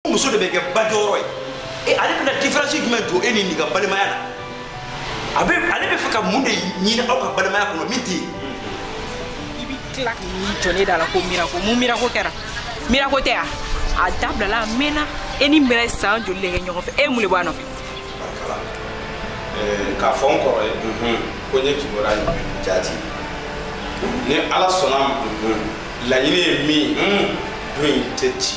muso de bɛ kɛ ba jɔyɔrɔ ye e ale bɛna diferansi jumɛn don e ni nin ka balimaya la a bɛ ale bɛ fɛ ka mun de ɲini aw ka balimaya kɔnɔ min tɛ yen i bɛ tila k'i jɔ ne da la ko mirako mun mirako kɛra mirako tɛ yan a dabilala a mɛnna e ni mira san joli de kɛ ɲɔgɔn fɛ e mun de b'a nɔfɛ k'a fɔ n kɔrɔ ye ko n ye kibaruya ɲini jati ni ala sɔnna a ma laɲini ye min don in tɛ ci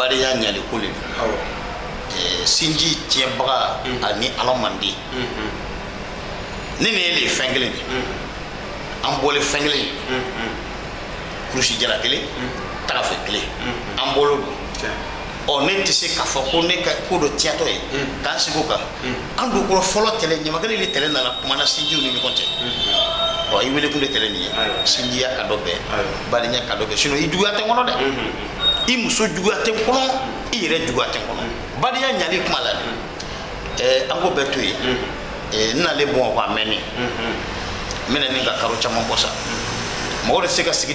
badenya ɲali ko le don eh, sinji tiɲɛbaga mm-hmm. a ni ala man di mm-hmm. ne ni e le ye fɛn kelen de mm-hmm. an bɔle fɛn kelen ye kurusi jara kelen tagafe kelen an bɔlen don ɔ ne tɛ se k'a fɔ ko ne ka ko dɔ tiyatɔ ye k'an sigi o kan an don kɔrɔ fɔlɔ tɛlɛ ɲamakala de tɛlɛ nana kumana sinjiw ni ɲɔgɔn cɛ ɔ i welekun de tɛlɛ nin ye sinjiya ka dɔ bɛn badenya ka dɔ bɛn sinɔn i juguya tɛ n kɔnɔ dɛ i muso juguya tɛ n kɔnɔ i yɛrɛ juguya tɛ n kɔnɔ badenya ɲali kuma la dɛ ɛɛ an k'o bɛɛ to yen ɛɛ n nalen bamakɔ a mɛnnen n bɛna ɲini ka karo caman bɔ sa mɔgɔ de tɛ se ka sigi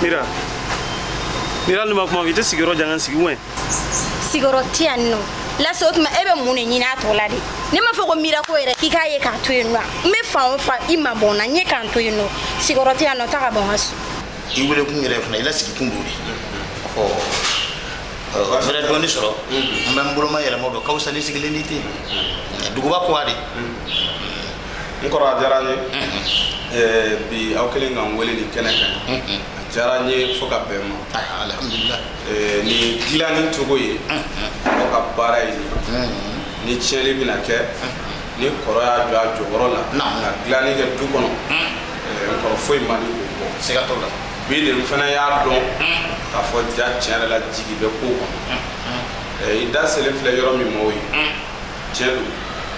Mira. Mira ne ma kuma i tɛ sigiyɔrɔ di an k'an sigi wɛn. Sigiyɔrɔ tɛ yan nɔ. Lase o tuma e bɛ mun de ɲini a tɔ la de. Ne m'a fɔ ko mira ko yɛrɛ k'i k'a ye ka n to yen nɔ. N bɛ fan o fan i ma bɔ n na n ye ka n to yen nɔ. Sigiyɔrɔ tɛ yan nɔ taa ka bɔ n ka so. I wele kun yɛrɛ fana i lasigi kun don de. Ɔ. fɛɛrɛ dɔɔni sɔrɔ n bɛ n boloma yɛlɛma dɔ ka fisa ni sigilen di ten duguba kuwa de n kɔrɔ a diyara n ye bi aw kɛlen ka n wele nin kɛnɛ kan a diyara n ye fo ka bɛn ma alhamdulilah nin dilanni cogo ye aw ka baara ye ni tiɲɛni bɛna kɛ ni kɔrɔ y'a jɔ a jɔyɔrɔ la ka dilanni kɛ du kɔnɔ n kɔrɔ foyi man di o bɔ siga t'o la bi de n fana y'a dɔn k'a fɔ ja tiɲɛ yɛrɛ la jigi bɛ ko kɔnɔ i da selen filɛ yɔrɔ min ma o ye tiɲɛ don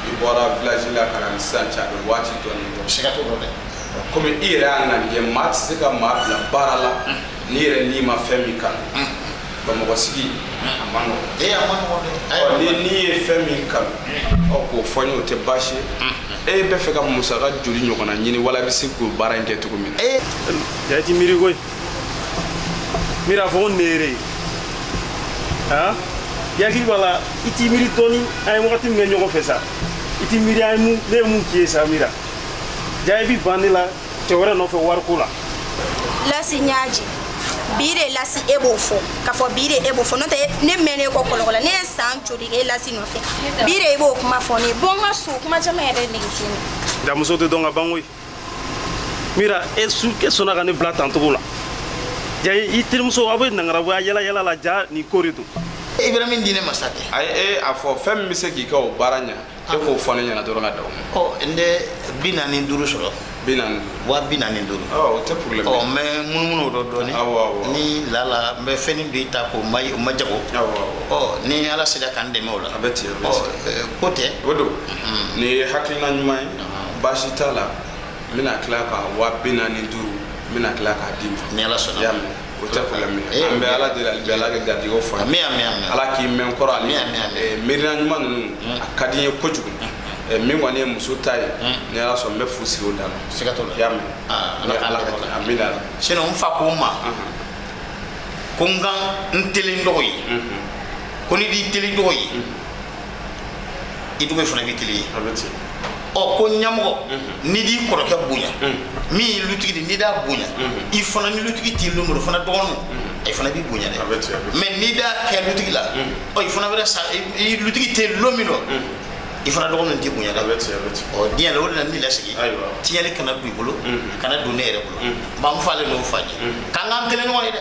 i bɔra village la ka na ni sisan cɛ a bɛ waati dɔɔni bɔ siga t'o dɔn dɛ komi i yɛrɛ y'a ŋaniya maa tɛ se ka maa bila baara la n'i yɛrɛ n'i ma fɛn min kanu bamakɔ sigi a ma nɔgɔ ee a ma nɔgɔ dɛ ɔ ni n'i ye fɛn min kanu ɔ k'o fɔ n ye o tɛ baasi ye e bɛ fɛ ka musaka joli ɲɔgɔnna ɲini wala i bɛ se k'o baara in kɛ cogo min na ee yɛrɛ t'i miiri koyi mira a fɔ ko ne yɛrɛ hakili b'a la i t'i miiri dɔɔni an ye wagati min kɛ ɲɔgɔn fɛ sa i t'i miiri an ye mun ne ye mun k'i ye sa mira ja i bi ban ne la cɛ wɛrɛ nɔfɛ wariko la lasi n y'a jigin bi de lasi e b'o fɔ k'a fɔ bi de e b'o fɔ n'o tɛ ne mɛnna e kɔ kɔlɔkɔlɔ ne ye san joli kɛ e lasi nɔfɛ bi de e b'o kuma fɔ ne ye bɔ n ka so kuma caman yɛrɛ nege tɛ ne nka muso tɛ dɔn ka ban koyi mira e su e sɔnna ka ne bila tancogo la ja i terimuso aw bɛ nangarabaya yala yala la ja nin ko de don i bɛ min di ne ma sa tɛ a ye e a fɔ fɛn min bɛ se k'i ka o baara ɲɛ e k'o fɔ ne ɲɛna dɔrɔn ka da o ma ɔ n tɛ bi naani ni duuru sɔrɔ bi naani duuru wa bi naani ni duuru ɔ o tɛ problème ɔ n bɛ munumunu o dɔ dɔɔni awɔ awɔ ni lala n bɛ fɛnni b'i ta k'o ma o ma jago awɔ awɔ ɔ ni ala sera k'an dɛmɛ o la a bɛ ten a bɛ ɔ ten ɛ, ko tɛ o don nin ye hakilina ɲuman ye baasi t'a la n bɛna tila ka wa bi naani ni duuru n bɛna tila k'a d'i ma ni ala sɔnna y'a mɛn o tɛ problème ye an bɛ ala deli hali bi ala ka garijɛgɛw fɔ an ye ala k'i mɛn kɔrɔ ale miirina ɲuman ninnu a ka di n ye kojugu min kɔni ye muso ta ye ni ala sɔn n bɛ fu sigi o dan na siga t'o la y'a mɛn ala ka ala ka kɛ amiina sinon n fa ko n ma ko n ka n tilen n dɔgɔ ye ko n'i d'i tilen i dɔgɔ ye i dɔgɔ fana b'i tilen i ye ɔ ko ɲɛmɔgɔ mhm. n'i d'i kɔrɔkɛ bonya mhm. min ye lutigi de n'i d'a bonya mhm. i fana ni lutigi t'i lon min rɔ fana dɔgɔninw i fana b'i bonya dɛ mais n'i d'a kɛ lutigi la ɔ i fana bɛ sa i lutigi tɛ lon min dɔ i fana dɔgɔninw t'i bonya dɛ ɔ diɲɛ la o de la ni lasigi tiɲɛli kana don i bolo kana don ne yɛrɛ bolo n ba n fa le n'o fɔ an ye k'an k'an tilen ɲɔgɔn ye dɛ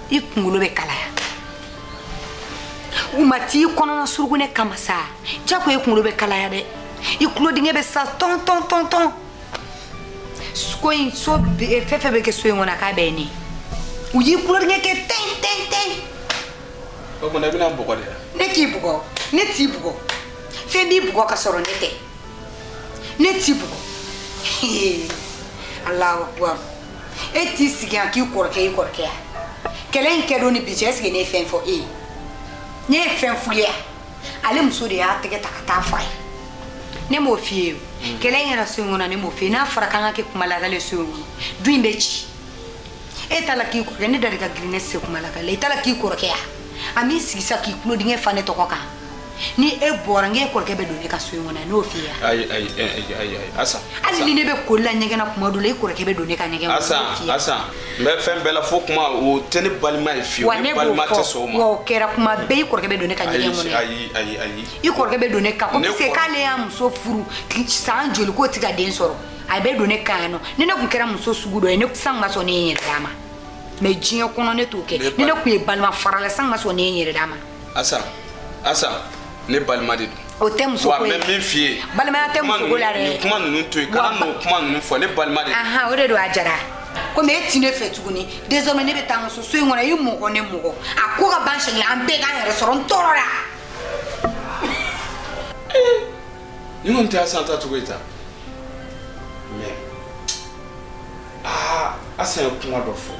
i kunkolo bɛ kalaya u ma t'i kɔnɔna surugu ne kama sa jako i kunkolo bɛ kalaya dɛ i tulodingɛ bɛ sa tɔn tɔn tɔn tɔn ko in so fɛn o fɛn bɛ kɛ so in kɔnɔ k'a bɛ ne u y'i tulodingɛ kɛ tɛn tɛn tɛn o tuma i bɛna n bugɔ de la ne k'i bugɔ ne t'i bugɔ fɛn b'i bugɔ ka sɔrɔ ne tɛ ne t'i bugɔ Allahu akbar e t'i sigi yan k'i kɔrɔkɛ i kɔrɔkɛ yan kɛlɛ in kɛ don ni bi cɛ est-ce que ne ye fɛn fɔ e ye ne ye fɛn f'u ye ale muso de y'a tɛgɛ ta ka taa fɔ a ye ne m'o f'i ye hmm. kɛlɛ in kɛra so in kɔnɔ ne m'o f'i ye n'a fɔra k'an ka kɛ kuma lakali so in kɔnɔ du in bɛ ci e t'a la k'i kɔrɔkɛ ne da de ka girin ne se kuma lakali i t'a la k'i kɔrɔkɛ yan a m'i sigi sa k'i tulodingɛ fa ne tɔgɔ kan ni e bɔra n k'e kɔrɔkɛ bɛ don ne ka so in kɔnɔ yan n m'o f'i ye ayi ayi ayi ayi ayi asa hali ni ne bɛ koli la ɲɛgɛn na tuma dɔ la e kɔrɔkɛ bɛ don ne ka ɲɛgɛn kɔnɔ asa asa n bɛ fɛn bɛɛ la fo kuma o tɛ ne balima ye fiyewu ne balima tɛ sɔn o ma wa o kɛra tuma bɛɛ i kɔrɔkɛ bɛ don ne ka ɲɛgɛn kɔnɔ ayi ayi ayi i kɔrɔkɛ bɛ don ne ka kɔmi se k'ale y'a muso furu san joli k'o tɛ ka den sɔrɔ a bɛ don ne kan yan nɔ ni ne tun kɛra muso sugu dɔ ye ne san ka sɔn ne ye n yɛrɛ d'a ma mais diɲɛ kɔnɔ ne t'o kɛ ni ne tun ye balima farala san ka sɔn ne ye n yɛrɛ d'a ma asa asa ne balima de don o tɛ muso ko ye wa n bɛ min f'i ye balimaya tɛ muso ko la dɛ nin kuma ninnu to yen kana n'o kuma ninnu fɔ ne balima de don o de don a jara komi e ti ne fɛ tuguni désormais ne bɛ taa n ka so so in kɔnɔ i mɔgɔ ne mɔgɔ a ko ka ban sɛgɛn an bɛɛ k'an yɛrɛ sɔrɔ n tɔɔrɔla nin kɔni tɛ asan tacogo ye ta mais aa asan ye kuma dɔ fɔ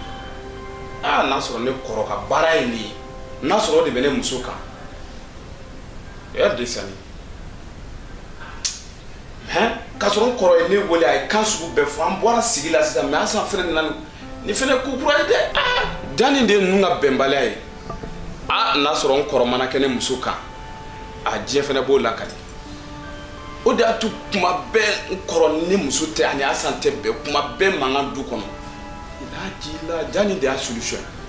aa n'a sɔrɔ ne kɔrɔ ka baara ye nin ye n'a sɔrɔ o de bɛ ne muso kan o y'a desani hɛn k'a sɔrɔ n kɔrɔ ye ne wele a ye kan sugu bɛɛ fɔ an bɔra sigi la sisan mais asan fɛnɛ nana ni fɛnɛ ko kura ye dɛ ah! jaa nin de ye ninnu ka bɛnbaliya ye a n'a sɔrɔ n kɔrɔ mana kɛ ne muso kan a diyanye fɛnɛ b'o la ka di o de y'a to kuma bɛɛ n kɔrɔ ni muso tɛ ani asan tɛ bɛn kuma bɛɛ mankan du kɔnɔ n'a jila jaa nin de y'a solution ye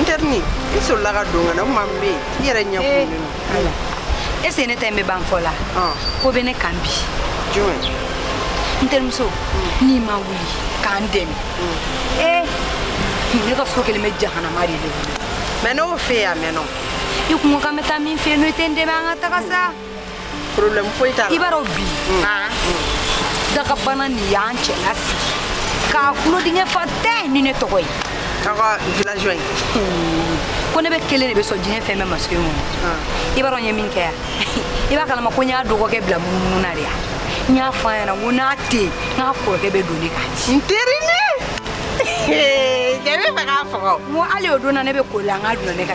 n teri ni i sɔrɔla ka don ka na o kuma n bɛ yen i yɛrɛ ɲɛ kurulen don e se ne ta in bɛ ban fɔ la ko bɛ ne kan bi jumɛn n terimuso n'i ma wuli ka n dɛmɛ ee ne ka so kɛlen bɛ jahanama de ye mais n'o fɛ yen a mɛnna i kun ko k'an bɛ taa min fɛ yen n'o tɛ n dɛmɛ an ka taga sa problème foyi t'a la i b'a dɔn bi han dakabana nin y'an cɛ lasigi k'a tulodingɛ fa ten ni ne tɔgɔ ye aw ka villageois ye ko ne bɛ kelen de bɛ sɔn diɲɛ fɛn bɛɛ ma sigi kɔnɔ i b'a dɔn n ye min kɛ yan i b'a kalama ko n y'a dɔgɔkɛ bila munumunu na de yan n y'a fɔ a ɲɛna ko n'a tɛ yen n k'a kɔrɔkɛ bɛ don ne k'a ci n teri ne yɛrɛ b'a fɛ k'a faga o n ko hali o don na ne bɛ koli an ka dulɔ ne ka